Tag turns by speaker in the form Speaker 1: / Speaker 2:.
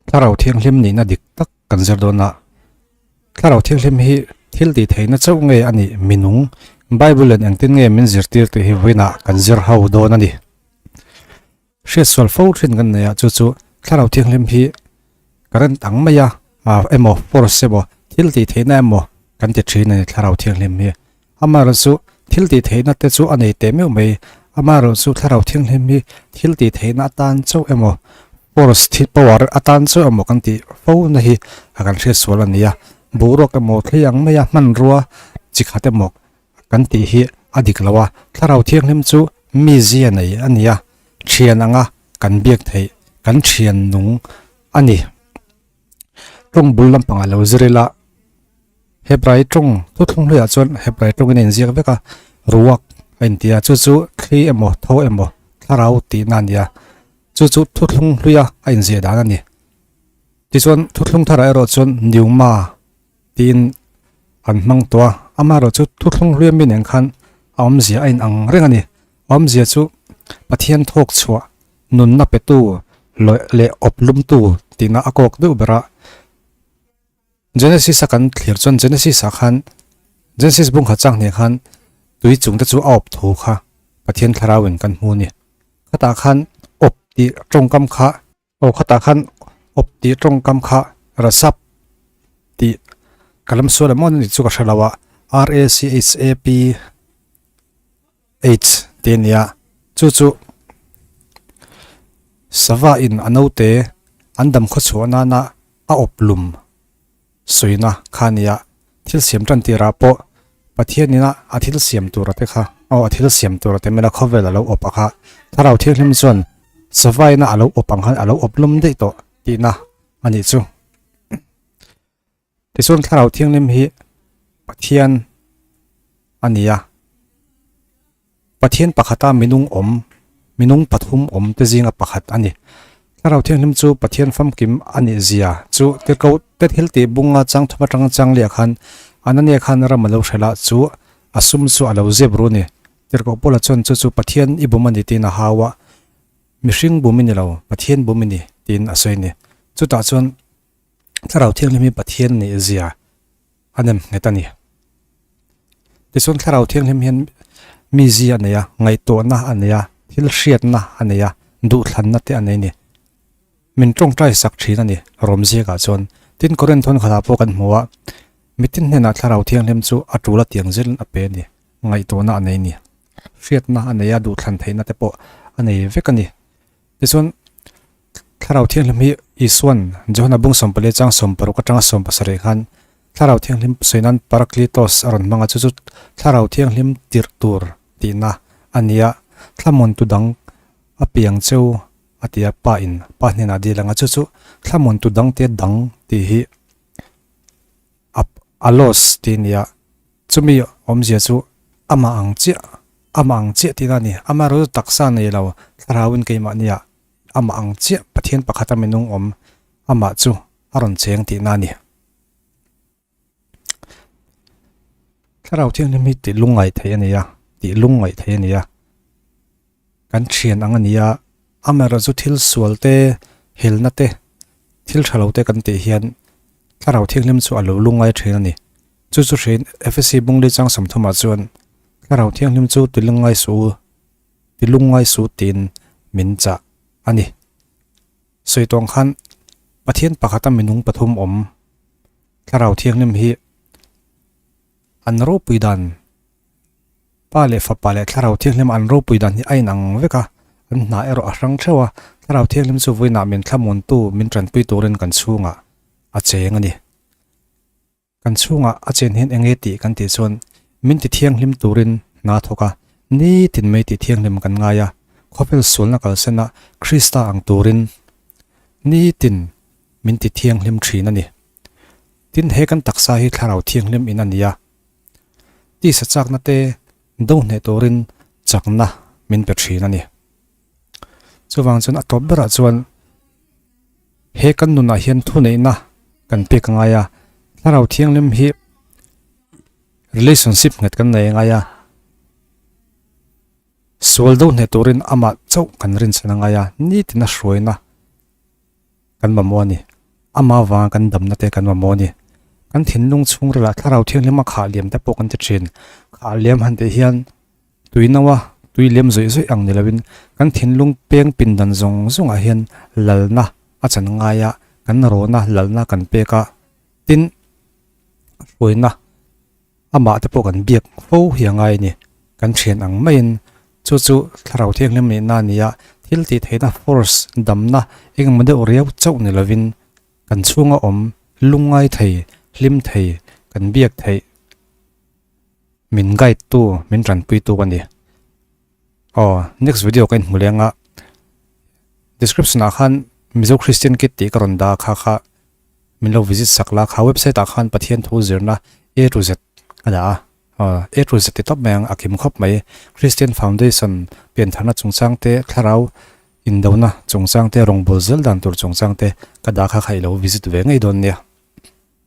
Speaker 1: Thlarau thianghlim nihna dik tak kan zir dawn a. Thlarau thianghlim hi thil tih theihna chauh nge a nih minung Bible in engtin nge min zirtir tih hi vawiin a kan zir ho dawn a ni. Hriat sual fo thin kan nei a chu chu thlarau thianghlim hi ka ran tang mai a emaw force emaw thil tih theihna emaw kan ti thin a ni thlarau thianghlim hi. Amaral chu thiltihtheihna te chu a nei teh meuh mai. Amaral chu thlarau thinghlim hi thiltihtheihna atan chauh emaw, pores, thil power, atan chauh emaw kan tih fo na hi a kan hriatsual a ni a. Boruak emaw, thlei ang maia hmanrua chi khat emaw kan tih hi a dik lo a. Thlarau thianghlim chu mi zia nei a ni a, thian anga kan biak theih, kan thian nung a ni. tawng bul lampangah lo zir ila Hebrai tawng chu thlung hliah chuan Hebrai tawngin a inziak vek a Ruach a inti a chu chu thli emaw tho emaw thlarau tihna a nia chu chu thuthlung hluia a inziah dan a ni tichuan thuthlung thar erawh chuan Newma. Tiin kan hmang tawh a, amaherawh chu thuthlung hliam mi nen khan a awmzia a inang reng a ni. A awmzia chu Pathian thawkchhuah, nunna petu leh awp lumtu tina a kawk deuh ber a. Genesis a kan thlir chuan Genesis ah khan, Genesis bung khat chang hneh khan tui chung te chu a awp thu kha Pathian thlarau in kan hmu a ni. Khatah khan awp tih tawngkam kha. Aw khatah khan awp tih tawngkam kha Rasap tih ka lam sual em maw ni chu ka hre lo a, RACHSAPH tih a nia, chu chu sava in a naute an dam khawchhuah nana a awp lum. Suina kha nia, thil siam tan tirah pawh Pathianin a a thil siam tura te kha, aw, a thil siam tura te mena khawvel a lo awp a kha, Thlarau thianghlim chuan savaina a lo awp ang khan a lo awp lawm daih tawh tihna a nih chu. Tichuan Thlarau thianghlim hi Pathian a nia. Pathian pakhata minung awm, minung pathum awm te zinga pakhat a ni. Thlarau thianghlim chu Pathian famkim a nih zia chu tirhko te thil tih bunga changthuma chang chang leh khan Anania khan ram a lo hrel a, chu a sum chu a lo zep ru ni. Tirhkoh Paula chuan chu chu Pathian i bum a ni tiin a hau a, mihring bum i ni lo, Pathian bum i ni tiin a sawi ni. Chutah chuan Thlarau thianghlim hi Pathian nih zia. A nem nghet a ni. Tichuan Thlarau Thianghlim hian mizi a nei a, ngaihtuahna a nei a, thil hriatna a nei a, duhthlanna te a nei a ni. Min tawngtai sak thin a ni rawm ziakah chuan. Tin, Koren thawnkhatah pawh kan hmu a, mite hnenah Thlarau Thianghlim chu a tul a tiang zir in a pe a ni. Ngaihtuahna a nei a ni. Hriatna a nei a, duhthlan theihna te pawh a nei vek a ni. Tichuan Thlarau thianghlim hi Isuan, Johana bung sawmpa leh chang sawmpa ruk atanga sawm pasarih khan Thlarau thianghlim sawi nan Parakletos a rawn hmang a, chu chu Thlarau thianghlim tirh tur tihna a nia. Thlamun tudang a piang cheu a tia Pa in, Pa hnenah dil anga, chu chu thlamun tudangte dang tih hi a a los tih nia. Chumi awmzia chu ama ang chiah, ama ang chiah tihna a ni. Ama erawh chu taksa nei lo, Thlarauin keimahnia Amah ang chiah Pathian pakhata minung awm amah chu a rawn cheng tih na a ni. Thlarau Thianghlim hi tihlungngaih theih a ni a, tihlungngaih theih a ni a, kan thian ang a ni a, amaherawh chu thil sual te, helna te, thil tha lo te kan tih hian Thlarau Thianghlim chu a lo lungngai thin a ni. Chu chu hriin Efesi Bungli Changsamthumah chuan Thlarau Thianghlim chu tihlungngai suh u Ti lungngai su tiin min chah a ni. Sawi tawng khan, Pathian pakhata minung pathum awm Thlarau Thianghlim hi an ropui dan, Pa leh Fapa leh Thlarau Thianghlim an ropui dan hi a inang vek a, an hna erawh a hrang theuh a, Thlarau Thianghlim chu vawiinah min thlamuntu, min tanpui turin kan chhungah a cheng a ni. Kan chhungah a chen hian enge tih kan tih chuan min ti thianghlim turin hna thawk a, nitin mai tih thianghlim kan ngai a, khawvel sualna kalsena Krista ang turin nitin min ti thianghlim thin a ni. Tin, he kan taksa hi thlarau thianghlim in a ni a, tisa chaknate do hneh turin chakna min pe thin a ni. Chuvang chuan a tawp berah chuan, He kan nunah hian thuneihna kan pek ngai a, Thlarau Thianghlim hi relationship nghet kan nei ngai a, sual do hneh turin amah chauh kan rinchhan a ngai a, nitin a hruaina kan mamawh a ni, ama vanga kan damna te kan mamawh a ni. Kan thinlung chhungrila Thlarau Thianghlim a khah liam te pawh kan ti thin. Khah liam han tih hian Tuinoa, tui lem zawih zawih ang ni loin kan thinlung peng pindan zawng zawngah hian lalna a chan ngai a, kan rona lalna kan pek a, tin, hruaina amah te pawh kan biak fo hia ngai ni, kan thian ang maiin chu chu thlarau thianghlim nihna a ni a, thil tih theihna force damna engemaw deuh riau chauh ni lovin kan chhunga awm lungngai thei, hlim thei, kan biak theih. min guide tu min tanpui tu ka ni aw next video ka inhmu leng a description ah khan mizo christian kit tih ka rawn dah kha kha min lo visit sak la kha website ah khan pathian thu zirna a to z ka dah a aw a to z te tawp mai ang a kim khawp mai christian foundation pian thar na chung chang te thlarau in do na chung chang te rawngbul zel dan tur chung chang te ka dah kha kha i lo visit ve ngei dawn nia.